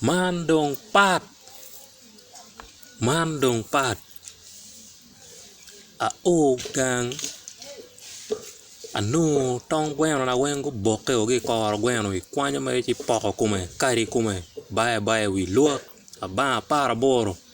Man dong pat man dong pat ao gang anongo tong gweno na weng guboke ki i koro gweno ikwanyo mere ci ipoko kome ikado kome ibayo abaya i wi luwot abanga apar aboro.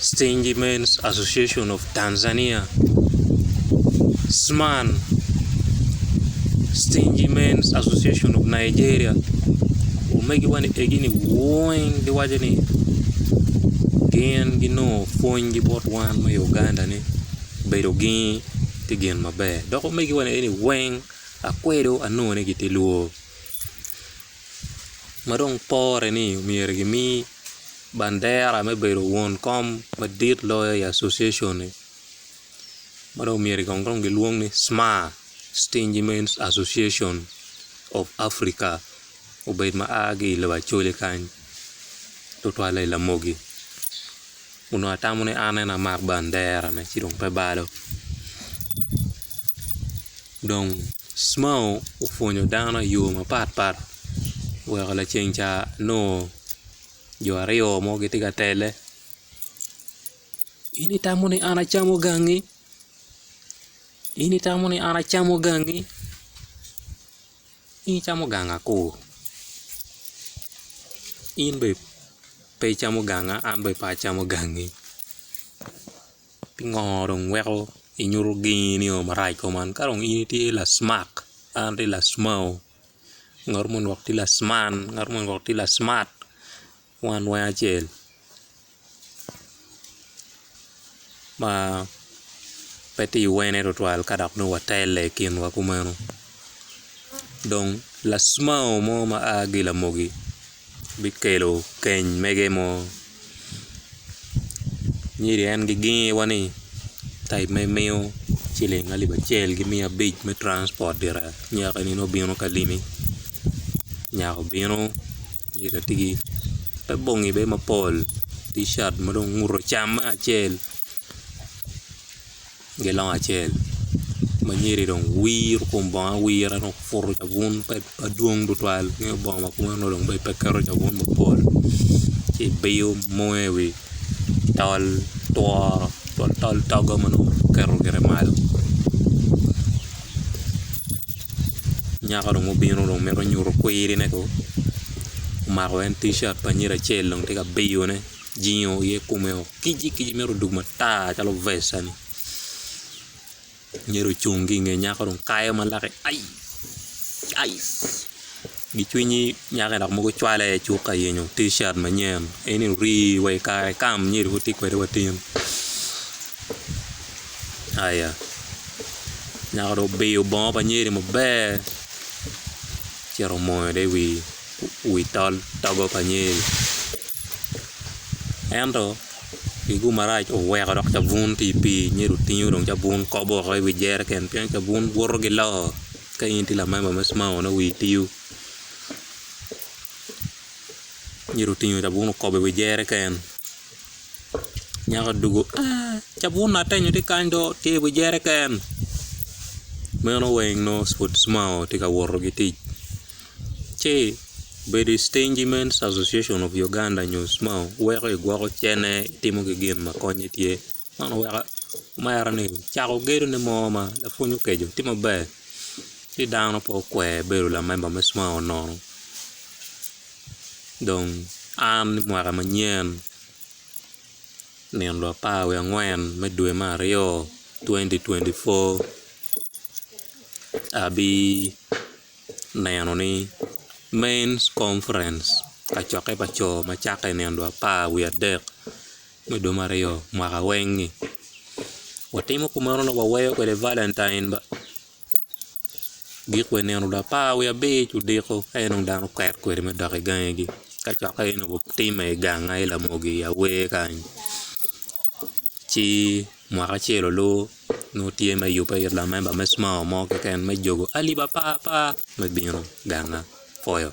Stingy Men's Association of Tanzania, SMAN, Stingy Men's Association of Nigeria, omegi wani egini weng giwaco ni gin ginongo pwony gi bot wan me Uganda ni bedo gi tye gin maber dok omegi wani egini weng akwedo anongo ni gitye lwor. ma dong pore ni myero gimi bandera me bedo won kom madit loyo i Association-ni ma dong myero kong dong gilwong ni SMAA, Stingy Men's Association of Africa obed ma a ki i lobo Acholi kany tutwalle i Lamogi onongo atamo ni an en amak banderane ci dong pe balo. Dong Cmao opwonyo dano i yo mapat pat oweko laceng ca nongo jo aryo mo gitye ka tele in itamo ni an acamo gangi in itamo ni an acamo gangi in icamo gang akur in bene pe icamo ganga an bene pe acamo gangi. Pingo dong weko inyuto gengi nio marac kong man ka dong in itye lasmak an atye lasmau ngat moni dong tye lasman ngat moni dong tye lasmat wan weng acel ma pe tye iwene tutwal ka dok nongo watelle i kinwa kumeno dong lasmau mo ma a ki i lamoki. bikelo keny mege mo nyo en gigingi wa ni type ma imiyo ciling alip acel ki miya abic me transport gire nyako eni nongo obino ka limi nyako obino nyo bene tye ki te bongi bene mapol ticat ma dong onguto cam acel Gilongo acel ma nyiri dong wiro kom bongo awira dok puto cabun madwong tutwal nyo bongo ma kome onongo pe keto cabun mapol ci biyo moyo i wi tol tworo tol togo ma nongo oketo gire malo nyako dong obino dong mito nyuto kwirine kong omako en ticat pa nyiri acel dong tye ka biyone. jingo iye kome o kic ci kicci mito dwogo matar calo vecca ni myero ocung ki nge nyako dong kayo ma lake ai ai gi cwinyi nyako dok mogo cwale aye cuk ka yenyo ticat manyen en ni ori wa i kare kam myero wati kwede watin aya nyako dong obiyo bongo pa nyede maber ci yero omoyo dong i wi wi tol togo pa Nyeri. Ento kicbu marac oweko dok cabun tye i pii Nyeri otingo dong cabun kobo woko i wi jeriken pien cabun buto ki loo ka in itye lamemba me cmao nongo wii tio Nyeri otingo cabun okobo i wi jeriken nyako odwogo aah cabun ni atenyo tye kany do tye i wi jeriken meno weng nongo pud cmao tye ka woto ki tic. ci bedo i Stingy Men's Association of Uganda nyo SMAU weko igwoko cene itimo ki gin ma konye tye man weko imera ni cako gedone mo ma lapwony okeco tye maber ci dano pe okwer bedo lamemba me SMAU nono dong an i mwaka manyen nino dong apar wiye angwen me dwe me aryo twenty twenty four abi neno ni Men's Conference kacokke pa co ma cakke i nino dwe apar wiye adek me dwe me aryo mwaka weng-ngi watimo kumeno dok waweyo kwede Valentine ba gik wa i nino dwe apar wiye abic odiko ka inongo dano oket kwede me dok i gangegi kacokke aye onongo timme i ganga i Lamogi i awer kany ci Mwaka acel olubo, nongo tye me yubbe it lamemba me SMAO mo keken me jogo alip apar apar me bino ganga pwoyo.